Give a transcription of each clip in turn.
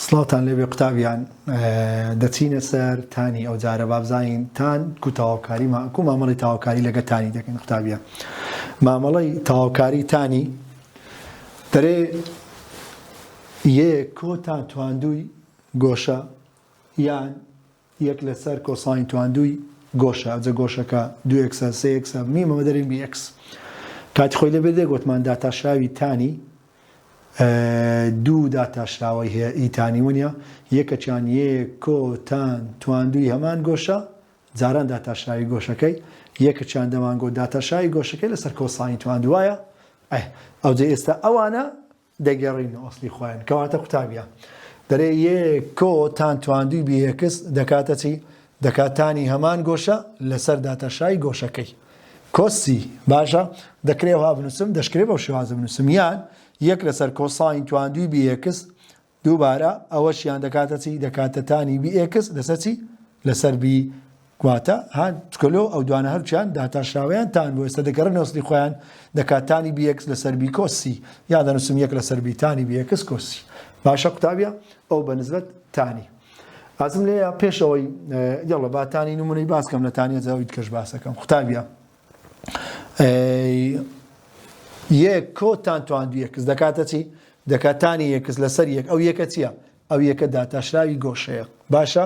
سڵاوتان لێبێ قوتابیان دەچینە سەر تانی ئەو جارە بابزانین تان کو تاواکاری کو مامەڵی تاواکاری لەگە تانی دەکەین قوتابیان مامەڵی تاواکاری تانی دەرێ یەک کۆتان تواندووی گۆشە، یان یەک لەسەر کۆساین تواندووی گۆشە، ئەجە گۆشەکە دوو ئێکسە، سێ ئێکسە، بنی بە مەدەری بی ئێکس. کاتی خۆی لەبیر دێ گۆتمان داتاشراوی تانی دوو داتاشراوەی هەیە ئی تانی ونە یەکەکیان یێ کۆ تان تواندووی هەمان گۆشە جاران داتاشراوی گۆشەکەی یەکەکیان دەمانگۆت داتاشاوی گۆشەکەی لەسەر کۆساین تواندووایە ئەه ئەوجە ئێستا ئەوانە دەگەڕین و ئەسڵی خۆیان. کەواتە قوتابیا. دەرێ یێ کۆ تان تواندوی بی ئێکس دەکاتە چی؟ دەکات تانی هەمان گۆشە لە سەر داتە شای گۆشەکەی. کۆس سی. باشە. دەکرێ ئەوها بنوسم؟ دەشکرێ بەو شێوازە بنوسم. یان یەک لە سەر کۆ ساین تواندوی بی ئێکس دووبارە ئەوەشیان دەکاتە چی؟ دەکاتە تانی بی ئێکس لە سەر چی؟ لە سەر بی گواتە ها تکەلۆ ئەو دوانە هەرچیان داتا شاوەیان تان بۆ ئێستا دەگەڕێ نەوسنی خۆیان دەکات تانی بی ئێکس لەسەر بی کۆس سی یا دەنووسم یەک لەسەر بی تانی بی ئێکس کۆس سی باشە قوتابیە ئەو بە نسبەت تانی ئازم لێ پێش ئەوەی یڵە باتانی نمونەی باسکەم لە تانیە زاویت کەش باسەکەم قوتابیە یەک کۆتان توان دوو یەکس دەکاتە چی دەکاتانی یەکس لەسەر یەک ئەو یەکە چییە ئەو یەکە داتاشراوی گۆشەیە باشە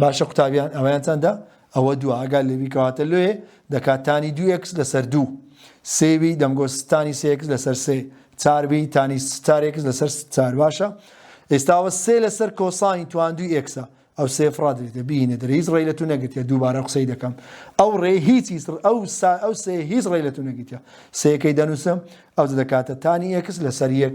باشە قوتابیان ئەوەیان چەندە؟ ئەوە دووە ئەگەر لەوی کەواتە لۆیێ دەکات تانی دوو ئێکس لەسەر دوو سێوی دەمگۆ ستانی سێکس لەسەر سێ چاربی تانی ستارێکس لەسەر چار باشە ئێستاوە سێ لەسەر کۆسانی تواندوی ئێکسە ئەو سێ فرادێتە بینە دەرە هیچ ڕێی لە تو نەگرتە دووبارە قسەی دەکەم ئەو ڕێ هیچ ئەو سا ئەو سێ هیچ ڕێ لە تو نەگرتە سێەکەی دەنووسم ئەو دەکاتە تانی ئێکس لەسەر یەک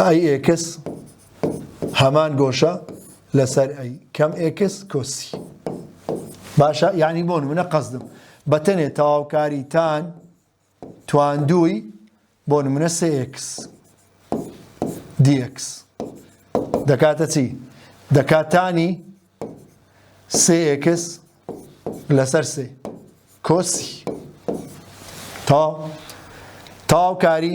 ئای ئێکس هەمان گۆشە لەسەر ئەی کەم ئێکس کۆسی باشە یعنی بۆن منە قەزدم بەتەنێ تەواوکاری تان تواندووی بۆ نمونە سێکس دیکس دەکاتە چی دەکاتانی سێکس لەسەر سێ کۆسی تا تاوکاری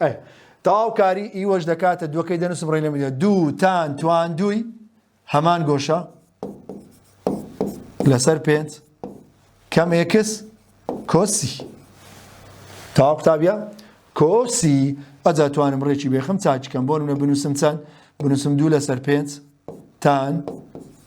ئەی تەواو کاری ئیوەش دەکاتە دووەکەی دەنووسم ڕێ لە میدە دوو تان توان دووی هەمان گۆشە لەسەر پێنج کەم ئێکس کۆسی تاوا قوتابە کۆسی ئەجا توانم ڕێکی بێخم چاچکەم بۆ منە بنووسم چەند بنووسم دوو لەسەر پێنج تان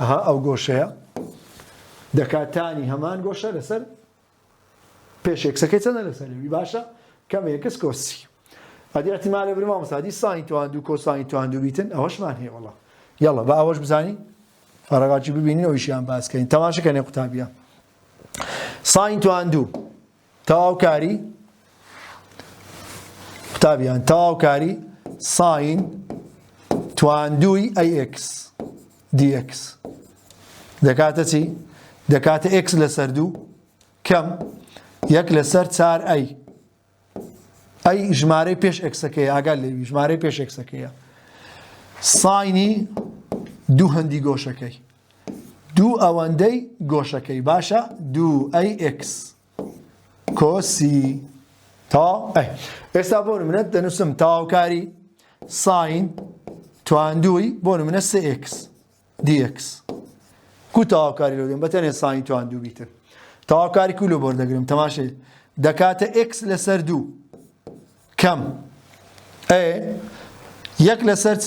ئەها ئەو گۆشەیە دەکات تانی هەمان گۆشە لەسەر پێشێکسەکەی چەندە لەسەرەوی باشە کەمێکس کۆسی ئەدی احتمالە برما مسادی ساین توان دوو کۆسانی توان دوو بیتن ئەوەشمان هەیە وڵە یاڵە بە ئەوەش بزانین فەرەگاچی ببینین ئەویشیان باسکەین تەماشەکەنێ قوتابیە ساین توان دوو تەواوکاری قوتابیان تەواوکاری ساین تواندووی ئەی ئێکس دی ئێکس دەکاتە چی؟ دەکاتە ئێکس لەسەر دوو کەم یەک لەسەر چار ئەی ئەی ژمارەی پێش ئەکسەکەی ئاگال لێوی ژمارەی پێش ئەکسەکەیە ساینی دوو هەندی گۆشەکەی دوو ئەوەندەی گۆشەکەی باشە دوو ئەی ئێکس کۆسی تەواو ئەی ئێستا بۆ منە دەنووسم تەواوکاری ساین تواندووی بۆ منە سێ ئێکس دیکس کو تەواوکاری لۆ دێن بەتەنێ ساین تواندوو بیتر تەواوکاری کو لۆ بۆر دەگرم تەماشێ دەکاتە ئێکس لەسەر دوو کەم ئێ یەک لەسەر چ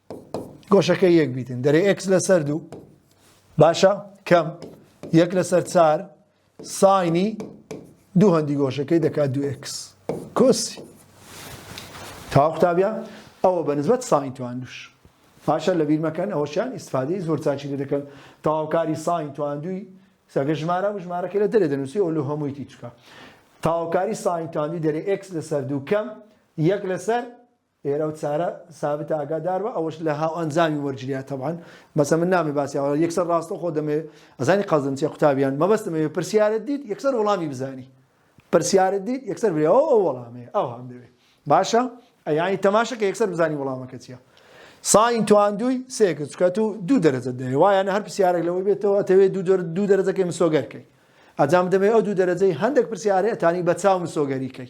گۆشەکەی یەک بیتن دەرێ ئەکس لەسەر دوو باشە کەم یەک لەسەر چار ساینی دوو هەندی گۆشەکەی دەکات دوو ئەکس کۆسی تا قوتابیان ئەوە بە نزبەت ساین توان دوش باشە لە بیرمەکەن ئەوەشیان ئیسفادی زۆر چاچی لێ دەکەن تاوکاری ساین تواندوی سەگە ژمارە و ژمارەکە لە دەرێ دەنووسی ئەو لە هەمووی تیچکە تاوکاری ساین تواندوی دەرێ ئەکس لەسەر دوو کەم یەک لەسەر ئێرە و چارە سابت ئاگادار بە ئەوەش لە هاو ئەنجامی وەرگریا تەبعەن بەسە من نامی باسی ئەوە یەکسەر ڕاستە خۆ دەمێ ئەزانی قەزم چیە قوتابیان مەبەستم ئەوێ پرسیارت دیت یەکسەر وەڵامی بزانی پرسیارت دیت یەکسەر برێ ئەو ئەو وەڵامێ ئەو هەم دەوێ باشە ئەیانی تەماشە کە یەکسەر بزانی وەڵامەکە چیە ساین تواندووی سێکە چکە تو دوو دەرەجە دەوێ وایانە هەر پرسیارێک لەوەی بێتەوە ئەتەوێ دوو دەرەجەکەی مسۆگەرکەی ئەجام دەبێ ئەو دوو دەرەجەی هەندێک پرسیارێ ئەتانی بە چاو مسۆگەریکەی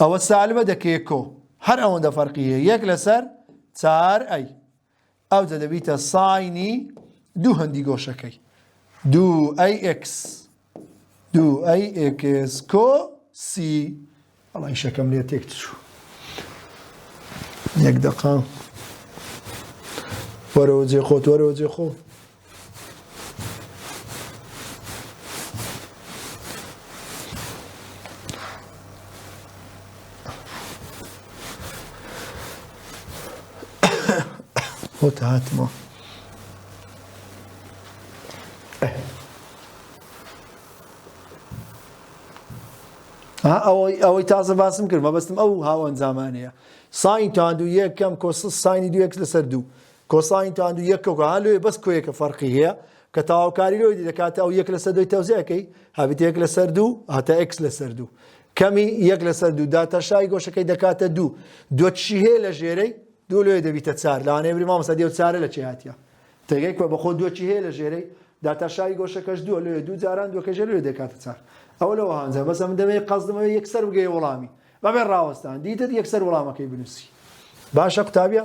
ئەوە سالبە دەکەیە کۆ هەر ئەوەندە فەرقی هەیە یەک لەسەر چار ئەی ئەوجە دەبیتە ساینی دوو هەندی گۆشەکەی دوو ئەی ئکس دوو ئەی ئکس کۆ سی ئەڵی شەکەم لێ تێک چوو یەک دەقام وەرەوە جێ خۆت وەرەوە جێ خۆ خۆت هاتمەوە ئەوەی ئەوەی تازە باسم کرد مەبەستم ئەو هاوەن زمانەیە ساین تاند و یەکەم کۆس ساینی دوێک لەسەر دوو کۆساین تاند و یەک کەوکە ها لۆیە بەس کۆیەکە فەرقی هەیە کە تاوکاری لۆی دەکاتە ئەو یەک لەسەر دوی تەوزیەکەی هەبێت یەک لەسەر دوو هەتا ئکس لەسەر دوو کەمی یەک لەسەر دوو داتەشای گۆشەکەی دەکاتە دوو دوچی هەیە لە ژێرەی دوو لۆیە دەبیتە چار لەوانەیە بری مامەستا دێو چارە لە چی هاتیە تێگەی کۆ بەخۆ دوچی هەیە لە ژێرەی داتاشای گۆشەکەش دووە لۆیە دوو جاران دوکەژ لێ دەکاتە چار ئەو لەوە هەنجە بەس ئەم دەمەیە قەزدمەوە یەکسەر بگەی وڵامی بەبێ ڕاوەستان دیتت یەکسەر وڵامەکەی بنووسی باشە قوتابیە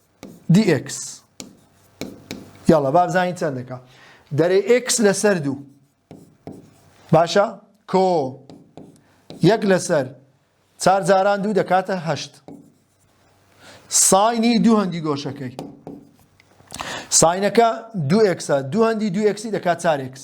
دی ئێکس یاڵە با بزانین چەند دەکا دەرێ ئێکس لەسەر دوو باشە کۆ یەک لەسەر چار جاران دوو دەکاتە هەشت ساینی دوو هەندی گۆشەکەی ساینەکە دو ئکسە دو هەندی دو ئکسی دەکات چارێکس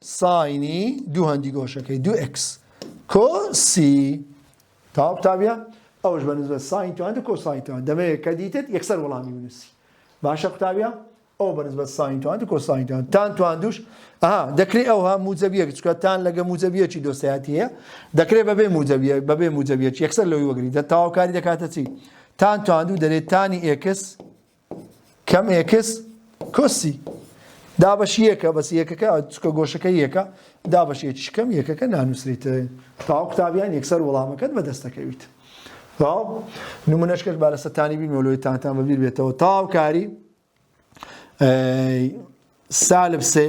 ساینی دوو هەندی گۆشەکەی دوو ئێکس کۆ سی تاو قوتابیە ئەوش بە نزبەت ساین توان کۆ ساین توان دەمەوێت کە دیتت یەکسەر وەڵامی بنووسی باشە قوتابیە ئەو بە نزبەت ساین توان کۆ ساین توان تان توان دوش ئەها دەکرێت ئەوها موجەبیەک چکە تان لەگە موجەبیەکی دۆستایەتی هەیە دەکرێت بەبێ موجەبیە بەبێ موجەبیەک یەکسەر لەوی وەگری دە تاواکاری دەکاتە چی تان تواندو دەرێت تانی ئێکس کەم ئێکس کۆسی دابەش یەکە بەس یەکەکە چکە گۆشەکە یەکە دابەش یەکی کەم یەکەکە نانووسریت تاو قوتابیان یەکسەر وەڵامەکەت بەدەستەکەویت تاو نمونەشکەش با لەسە تانی بینەوەلۆی تانتان بەبیر بێتەوە تاوکاری سالب سێ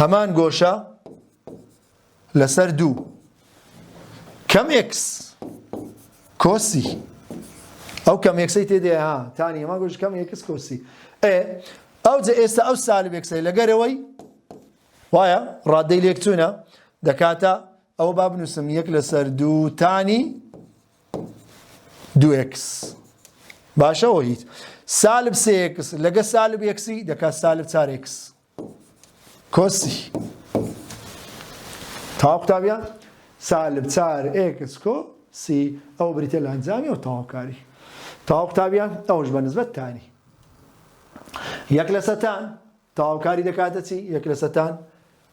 هەمان گۆشە لەسەر دوو کەم ئێکس کۆسی ئەو کەم ئێکسەی تێدێ ها تانی هەمان گۆش کەم ئێکس کۆسی ئێ ئەو جە ئێستا ئەو سالب ئێکسەی لەگەرەوەی وایە ڕادەی لێکچوونە دەکاتە ئەوە با بنووسم یەک لەسەر دوو تانی دوو ئێکس باشەوە هیچ سالب سێ ئێکس لەگە سالب ئێکسی دەکات سالب چار ئێکس کۆسی تا قوتابیان سالب چار ئێکس کۆ سی ئەو بریتە لە ئەنجامی و تەواوکاری تا قوتابیان ئەوش بە نسبەت تانی یەک لە سەتان تەواوکاری دەکاتە چی یەک لە سەتان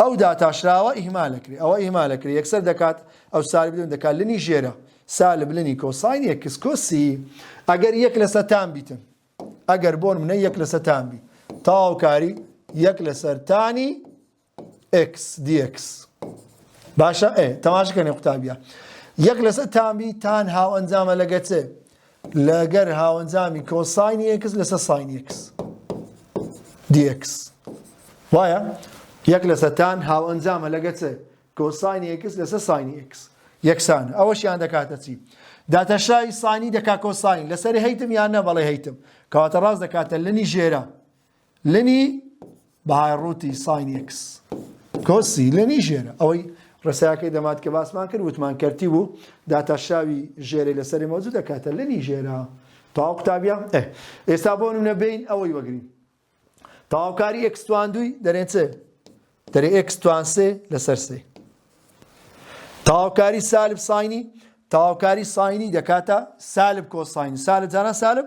ئەو داتاشراوە ئیهمالەکرێ ئەوە ئیهمالەکرێ یەکسەر دەکات ئەو سالب دوێن دەکات لنی ژێرە سالب لنی کۆساین ئێکس کۆسی ئەگەر یەک لە سەتان بیتن ئەگەر بۆن منە یەک لە سەتان بی تاوکاری یەک لە سەرتانی ئکس دیکس باشە ئێ تەماشکەنێ قوتابیە یەک لەسەر تامی تان هاو ئەنجامە لەگەچێ لەگەر هاوەنجامی کۆساینی ئێکس لەسەر ساینی ئێکس دیئێکس وایە یەک لەسەر تان هاوەنجامە لەگە چ کۆساینی ئێکس لەسەر ساینی ئێکس یەکسانە ئەوەشیان دەکاتە چی داتەشای سانی دەکا کۆساین لەسەر هەیتم یان نە بەڵێ هەیتم کەواتە ڕاست دەکاتە لەنی ژێرە لنی بەهای ڕووتی ساین ئێکس کۆسی لنی ژێرە ئەوەی ڕێساکەی دەمات کە باسمان کرد وتمان کەرتی بوو داتاشاوی ژێرەی لەسەری مەوجود دەکاتە لنی ژێرە تاو قوتابیان ئێستا بۆ نمونە بین ئەوەی وەگرین تەواوکاری ئەکستوان دوی دەرێن چێ دەرێ ئەکستوان سێ لەسەر سێ تەواوکاری سالب ساینی تەواوکاری ساینی دەکاتە سالب کۆساین سالب جاران سالب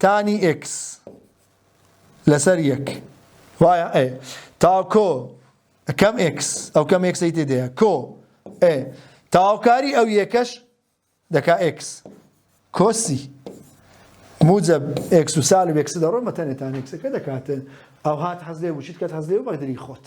تانی ئێکس لەسەر یەک وایە ئێ تا کۆ کەم ئێکس ئەو کەم ئێکسی تێدەیە کۆ ئێ تاوکاری ئەو یەکەش دەکا ئێکس کۆسی موجب ئێکس و سالب ئێکس دەڕۆ مەتەنێتان ئێکسەکە دەکاتن ئەو هات حەزێ وچیت کات حەزێ و بەقدری خۆت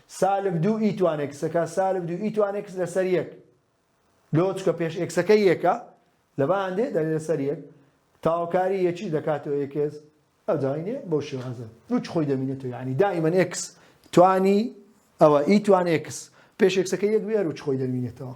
سالب دوو ئیتوان ئێکسەکە سالب دوو ئیتوان ئێکس لەسەر یەک لۆ چکە پێش ئێکسەکە یەکە لە باندێ دەلێ لەسەر یەک تاوکاری یەکی دەکاتەوە ئێکس ئەو داینێ بەو شێوازە دووچ خۆی دەمینێتەوە یعنی دائیمەن ئێکس توانی ئەوە ئیتوان ئێکس پێش ئێکسەکە یەک بێر و چ خۆی دەمینێتەوە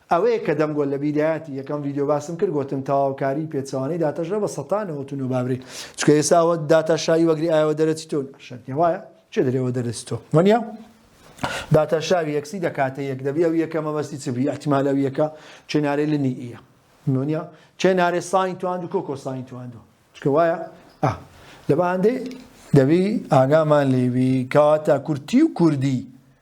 ئەوەیە کە دەمگۆ لە بیدایەتی یەکەم ڤیدیۆ باسم کرد گۆتم تەواوکاری پێچەوانەی داتاشا بە سەتا نەوەت و نۆ با برێ چونکە ئێسا ئەوە داتا شاوی وەگری ئایەوە دەرەچی تۆ شەرت نیە وایە چێ دەرێ وە دەرەچی تۆ وەنیە داتا شاوی یەکسی دەکاتە یەک دەبی ئەو یەکە مەبەستی چ بی احتمال ئەو یەکە چێنارێ لنی ئیە نۆنیە چێنارێ ساین تواند و کۆکۆ ساین تواندو چکە وایە ئا لە بەهاندەی دەبی ئاگامان لێوی کاتە کورتی و کوردی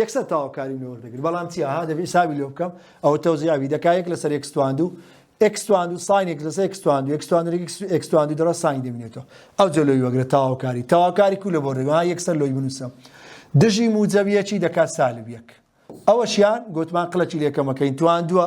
یەکسەر تەواوکاری لێ وەردەگرێت بەڵام چی ئاها دەبێت حسابی لێ بکەم ئەوە تەوزیاوی دەکا یەک لەسەر یەک ستواندو ئێکس تواندو ساین یەک لەسەر ئێکس تواندو ئێکس تواندو ئێکس تواندو دەڕە ساین دەبینێتەوە ئەو جە لۆی وەگرە تەواوکاری تەواوکاری کو لە بۆ دەگەڵ یەکسەر لۆی بنووسم دژی موجەبیەکی دەکات سالب یەک ئەوەشیان گوتمان قلەکی لێکەمەکەین تواندووە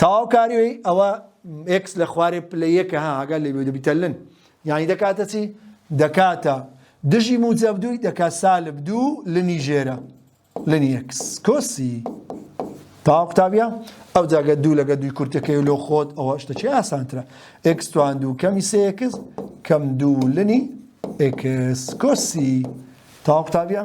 تەواو کاری ئەوە ئێکس لە خوارێ پلە یەکە ها هەگا لێ دەبیتە لن یعنی دەکاتە چی دەکاتە دژی موجب دووی دەکات سالب دوو لنی ژێرە لنی ئێکس کۆسی تاوا قوتابیە ئەو جاگە دوو لەگە دوی کورتەکەی لۆ خۆت ئەوە شتەکی ئاسانترە ئێکس توان دوو کەمی سێکس کەم دوو لنی ئێکس کۆسی تاوا قوتابیە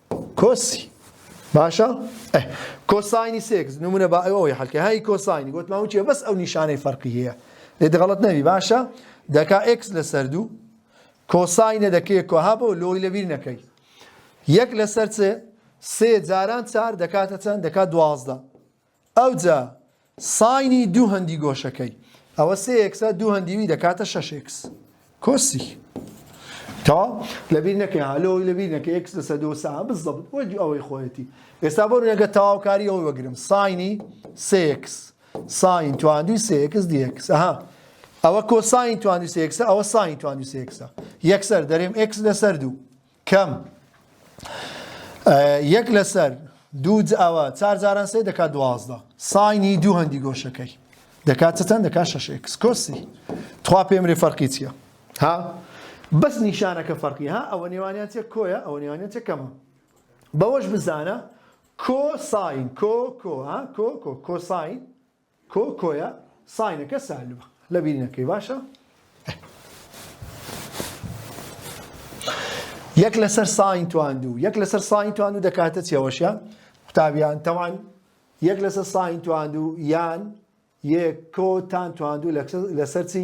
کۆسی باشە ئە کۆساینی سێکس نمونە با ئەوەی حلکە هاي کۆساینی گوتمان وچێ بەس ئەو نیشانەی فەرقی هەیە لێ دەغڵت نەوی باشە دەکا ئکس لەسەر دوو کۆساینە دەکەی کۆها بۆ لۆی لەبیر نەکەی یەک لەسەر چێ سێ جاران چار دەکاتە چەند دەکات دوازدە ئەوجا ساینی دوو هەندی گۆشەکەی ئەوە سێ ئێکسە دوو هەندی وی دەکاتە شەش ئێکس کۆسی تەواو لەبیر نەکەی ها لەوەی لەبیر نەکە ئێکس لەسەر دۆ سا بزەبت وەک ئەوەی خۆیەتی ئێستا بۆ نەگە تەواوکاری ئەوەی وەگرم ساینی سێ ئێکس ساین تواندوی سێ ئێکس دی ئێکس ئەها ئەوە کۆساین توانی سێکسە ئەوە ساین توانی سێکسە یەکسەر دەرێم ئکس لەسەر دوو کەم، ئە، یەک لەسەر، دوو جا، ئەوە، چار جاران سێ دەکات دوازدە، ساینی دوو هەندی گۆشەکەی، دەکات چ چەند دەکات شەش ئێکس، کۆسی، تخوا پێم بلێ فەرقی چیە، ها، بەس نیشانەکە فەرقی، ها، ئەوە نێوانیان چیە، کۆیە، ئەوە نێوانیان چیە، کەمە، بەوەش بزانە، کۆ ساین، کۆ، کۆ، ها، کۆ، کۆ، کۆساین، کۆ کۆیە ساینەکە سالبە لەبیر نەکەی باشە. یەک لەسەر ساین توان دوو یەک لەسەر ساین توان دوو دەکاتە چێوەشە قوتابیان تەوان یەک لەسەر ساین توان دوو یان یەک کۆتان توان دوو لەسەر چی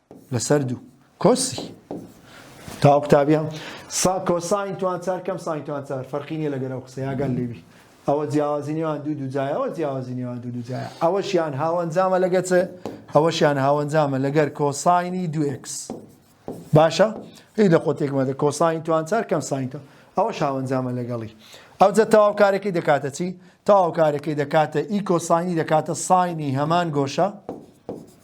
لەسەر دوو کۆسی تا قوتابیان سا کۆساین توان چار کەم ساین توان چار فەرقی نیە لەگەر ئەو قسەی ئاگال لێبی ئەوە جیاوازی نێوان دوو دوو جای ئەوە جیاوازی نێوان دوو دوو جای ئەوەشیان هاوەنجامە لەگە چێ ئەوەشیان هاوەنجامە لەگەر کۆساینی دوکس باشە هی لە قۆتێکمەدە کۆساین توان چار کەم ساینتە ئەوە شاوەنجامە لەگەڵی ئەو جە تەواو کارەکەی دەکاتە چی تەواو کارەکەی دەکاتە ئی کۆساینی دەکاتە ساینی هەمان گۆشە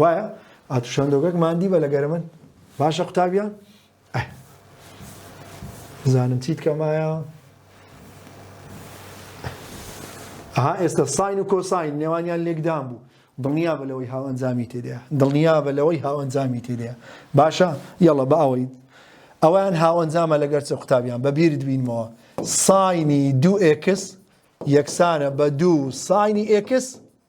وایە ئاتو شەندۆگەک ماندی بە لەگەر من باشە قوتابیان زانم چیت کەمایە ئەها ئێستا ساین و کۆساین نێوانیان لێکدان بوو دڵنیا بە لەوەی هاو ئەنجامی تێدەیە دڵنیا بە لەوەی هاو ئەنجامی تێدەیە باشە یەڵە بە ئەوەی ئەویان هاو ئەنجامە لەگەر چ قوتابیان بە بیرت بینمەوە ساینی دوو ئێکس یەکسانە بە دوو ساینی ئێکس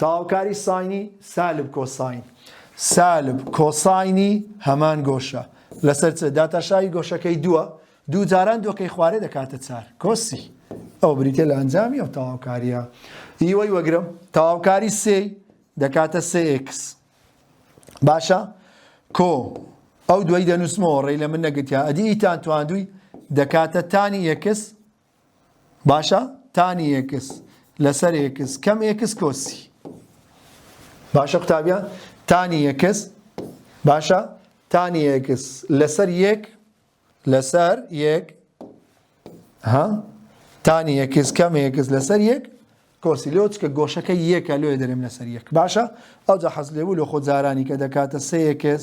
تەواوکاری ساینی سالب کۆساین سالب کۆساینی هەمان گۆشە لەسەر چ داتاشاوی گۆشەکەی دووە دوو جاران دۆکەی خوارێ دەکاتە چار کۆسی ئەو بریتە لە ئەنجامی ئەو تەواوکاریە ئیوەی وەگرم تەواوکاری سێ دەکاتە سێکس باشە کۆ ئەو دوای دەنووسمەوە ڕێ لە من نەگرتیا ئەدی ئیتان تواندووی دەکاتە تانی یەکس باشە تانی ئێکس لەسەر ئێکس کەم ئێکس کۆسی باشە قوتابیان تانی ئێکس باشە تانی ئێکس لەسەر یەک لەسەر یەک ها تانی ئێکس کەم ئێکس لەسەر یەک کۆسی لۆ چکە گۆشەکە یەکە لۆێ دەرێم لەسەر یەک باشە ئەوجا حەز لێبوو لە خۆ جارانی کە دەکاتە سێ ئێکس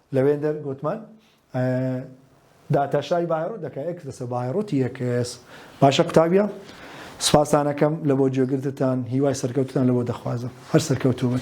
لەوێندەر گۆتمان، داتاشای بایڕوت دەکا ئێکس لەسەر بایڕوتی ئێکس. باشە قوتابیە سوپاستان ئەکەم لەبۆ گوێگرتتان هیوای سەرکەوتتان لەبۆ دەخوازم هەر سەرکەوتووبن.